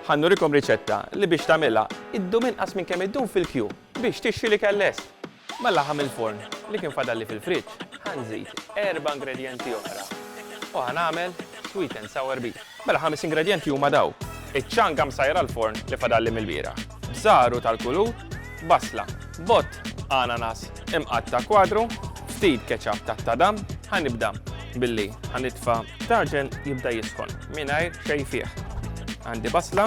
Ħa nurikom riċetta li biex tagħmilha ddum inqas minn kemm iddum fil-kju biex tixtri l-ikel lest. Mal-laħam mill-forn li kien fadalli fil-friġġ ħa nżid erba' ingredjenti oħra u ħa nagħmel sweet and sour beef. Mela ħames ingredjenti huma daw, iċ-ċanga msajra l-forn li fadalli mill-bieraħ, b'żagħru tal-kulur, basla, bott, ananas, Imqatta' kwadru, ftit ketchup tat-tadam, ħa nibda billi ħa nitfa' taġen jibda jisħon mingħajr xejn fih. Għandi basla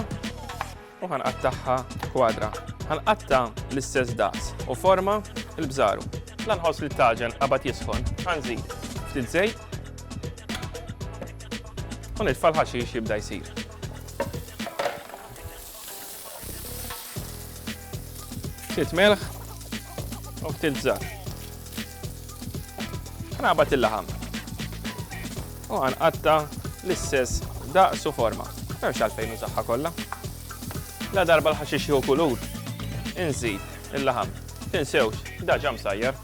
u ħa nqattagħha kwadra. Ħa nqatta' l-istess daqs u forma l-bżaru. La nħoss li t-taġen qabad jisħon, ħa nżid ftit żejt u nitfa' l-ħaxix jibda jsir. Ftit melħ u ftit żar. Ħnabat il-laħam. U ħanqatta l-istess daqsu forma. Memx għalfejn użaħħa kollha. La darba l-ħaxix jew kulur. Inżid il-laħam. Tinsewx, daġa msajjar.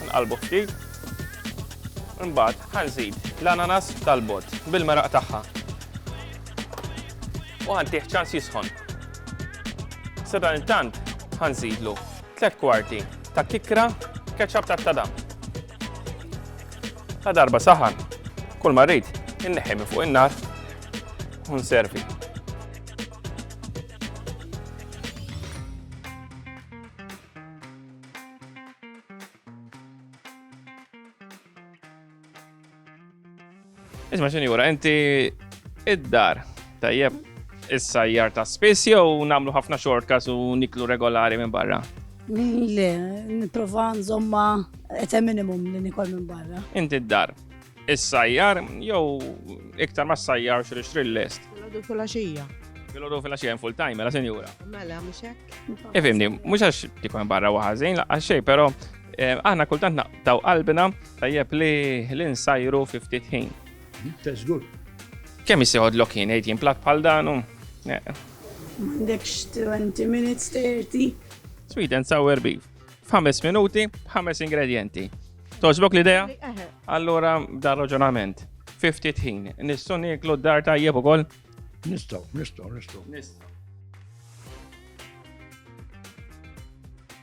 Nqalbu ftit. Imbagħad ħanżid l-ananas tal-bot bil-meraq tagħha. u ħantih ċans jisħon. Sadan il-tant ħanżidlu 3 kwarti ta' kikra ketchup ta' tadam. La darba saħan, kull marrit inneħi minn fuq in-nar u nservi. Isma' sinjura, inti id-dar tajjeb is-sajjar ta' spiss jew nagħmlu ħafna xortkas u niklu regolari minn barra? Le, niprofa nżomma ete minimum li nikol minn barra. Inti d-dar. Is-sajjar, jew iktar ma s-sajjar xri xri l-lest. Għadu fil-axija. Għadu fil-axija full time, mela senjura. Mela, muxek. Ifimni, mux għax tikon barra waħazin, għax xej, pero Eh, aħna kultant naqtaw qalbina tajjeb li l-insajru 50 ħin. Teżgur. Kemm jisiħod lokin għid jimplat bħal danu? Eh. M'għandekx 20 minutes 30. Sweet and sour beef. F'ħames minuti, ħames ingredienti. Toġbok l-idea? Eh, Allura dar raġunament. 50 ħin. Nistgħu nieklu d-dar tajjeb ukoll? Nistgħu, nistgħu, nistgħu. Nistgħu.